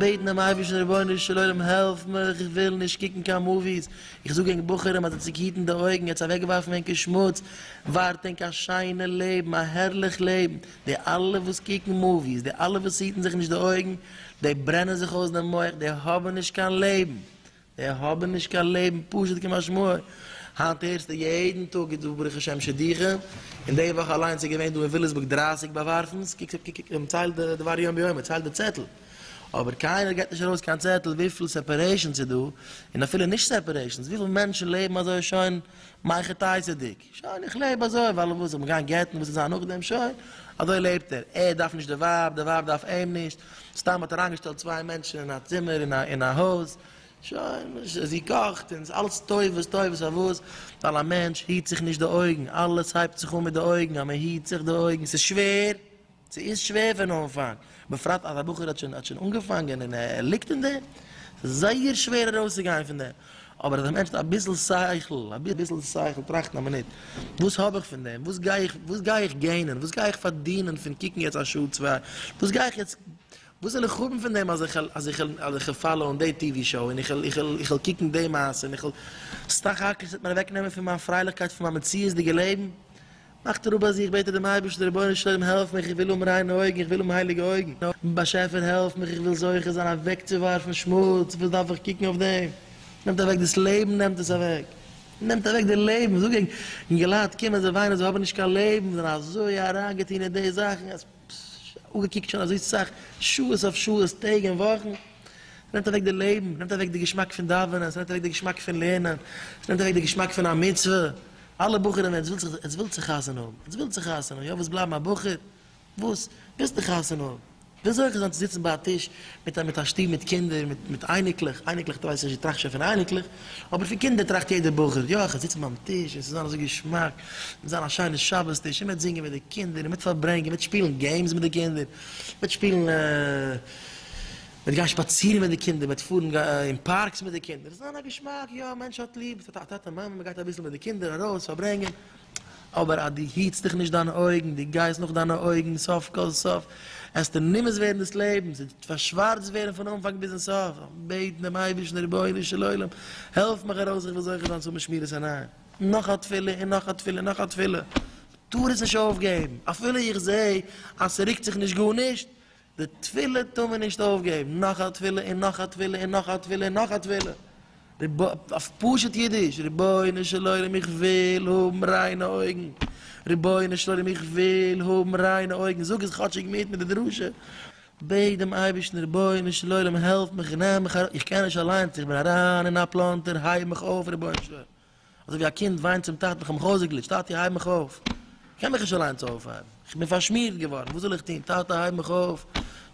בעטן דעם אייבערשטן רבונו של עולם העלף מיך איך וויל נישט קוקן קיין מאוויס, איך זאג ענק בחורים אז אצינד היטן די אויגן, יעצט אוועקווארפן ענקער שמוץ, ווארט ענק א שיינע לעבן, א הערליך לעבן, די אלע וואס קוקן מאוויס, די אלע וואס היטן זיך נישט די אויגן, די ברענען זיך אויס דעם מח, די האבן נישט קיין לעבן. זיי האבן נישט קיין לעבן פשוט כמשמעו, היינט הערסטו יעדן טאג איז דא ברוך השם שידוכים, און די וואך אליינס איז געווען דא אין וויליסבורג דרײַסיק באווארפנס, קוק קוק קוק מען ציילט די דבר יום ביומו, מען ציילט די צעטל, אבער קיינער געט נישט ארויס קיין צעטל וויפיל סעפערעישאנס איז דא, און אפילו נישט סעפערעישאנס, וויפיל מענטשן לעבן אזוי שוין מייכעטייסעדיג. שוין איך לעב אזוי ווייל וואס זאל מען גיין גט'ן וואס זאל זיין נאכדעם שוין אזוי לעבט ער ער דארף נישט די ווייב די ווייב דארף אים נישט סתם האט ער איינגעשטעלט צוויי מענטשן אין א צימער אין א אין א הויז שוין זי קאכט און ס'איז אלעס טובות טובות פארוואס ווייל א מענטש היט זיך נישט די אויגן אלעס הייבט זיך אן מיט די אויגן אז מען היט זיך די אויגן ס'איז שווער ס'איז שווער פון אנפאנג, בפרט אז א בחור האט שוין האט שוין אנגעפאנגען און ער ליגט אין דעם, ס'איז זייער שווער ארויסצוגיין פון דעם, אבער אז א מענטש האט אביסל שכל, אביסל שכל, טראכטן א מינוט, וואס האב איך פון דעם, וואס גיי איך, וואס גיי איך געינען, וואס גיי איך פארדינען פון קוקן יעצט א שעה צוויי, וואס גיי איך יעצט, וואס וועל איך האבן פון דעם אז איך אז איך אז איך וועל פאלאוען די טי ווי שאו און איך וועל איך וועל איך וועל קוקן די מעשה און איך וועל, סך הכל ס'וועט מיר אוועקנעמען פון מיין פרייליכקייט פון מיין מציאות'דיגע לעבן, מאכט ער אפ ביי זיך בעט ער דעם אייבערשטן רבונו של עולם העלף מיך איך וויל האבן ריינע אויגן איך וויל האבן הייליגע אויגן באשעפער העלף מיך איך וויל זוכה זיין אוועקצואווארפן שמוץ וואס דארף איך קוקן אויף דעם נעמט אוועק דאס לעבן נעמט עס אוועק נעמט אוועק די לעבן זאג איך אינגעלייט קומען זיי וויינען זיי האבן נישט קיין לעבן זיי זענען אזוי אריינגעטון אין די זאכן אז פשש אפגעקוקט שוין אזוי סאך שעות אויף שעות טעג און וואכן נעמט אוועק די לעבן נעמט אוועק די געשמאק פון דאווענען ס'נעמט אוועק די געשמאק פון לערנען ס'נעמט אוועק די געשמאק פון א מצוה אלע בחורים ווען עטס ווילט זיך עטס ווילט זיך חתונה האבן עטס ווילט זיך חתונה האבן יא ווילסט בלייבן א בחור וואס ווילסטו חתונה האבן ווי אזוי כ'זאל זיין צו זיצן ביי א טיש מיט א מיט א שטוב מיט קינדער מיט מיט אייניקלעך אייניקלעך טרייסט נישט דו טראכסט שוין פון אייניקלעך אבער פון קינדער טראכט יעדער בחור יא כ'זיץ ביים טיש און ס'זאל זיין אזוי געשמאק ס'זאל זיין א שיינע שבת טיש און מ'וועט זינגען מיט די קינדער און מ'וועט פארברענגען מ'וועט שפילן געימס מיט די קינדער מ'וועט שפילן מען וועט גיין שפאצירן מיט די קינדער, מען וועט פארן אין פארקס מיט די קינדער, עס איז זיין א געשמאק, יא א מענטש האט ליב טאטע מאמע, מען גייט אביסל מיט די קינדער ארויס פארברענגען, אבער אז דו היטסט דיך נישט דיינע אויגן, דו גייסט נאך דיינע אויגן, סוף כל סוף עסטו נמאס ווערן דאס לעבן, ס'וועט פארשווארצט ווערן פון אנפאנג ביזן סוף, בעט דעם אייבערשטן רבונו של עולם העלף מיך ארויס איך וויל זוכה זיין צו האבן שמירת עיניים, נאך א תפילה און נאך א תפילה און נאך א תפילה, טאר עס נישט אויפגעבן, אפילו איך זעה אז ס'רוקט זיך נישט גארנישט, די תפילה טאר מען נישט אויפגעבן, נאך א תפילה און נאך א תפילה און נאך א תפילה און נאך א תפילה, אויף פשוט אידיש, רבונו של עולם איך וויל האבן ריינע אויגן, רבונו של עולם איך וויל האבן ריינע אויגן, זאג עס כאטשיג מיט מיט די דרשה, בעט דעם אייבערשטן רבונו של עולם העלף מיך און נעם מיך ארויס, איך קען נישט אליינס איך בין אריין אין א פלאנטער הייב מיך אויף רבונו של עולם. אזוי ווי א קינד וויינט צום טאטן איך האב מיך אויסגעגליטשט טאטי הייב מיך אויף איך קען מיך נישט אליינס אויפהייבן איך בין פארשמירט געווארן וואס זאל איך טון טאטע הייב מיך אויף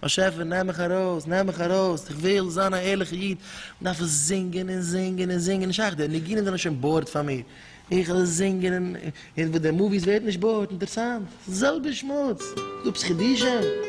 באשעפער נעם מיך ארויס נעם מיך ארויס איך וויל זיין א ערליכע איד דארף עס זינגען און זינגען און זינגען נישט שייך די ניגונים זענען שוין באורד פאר מיר איך עס זינגען און און וואס די מאוויס ווערט נישט באורד אינטערסאנט די זעלבע שמוץ דאפס חידושים.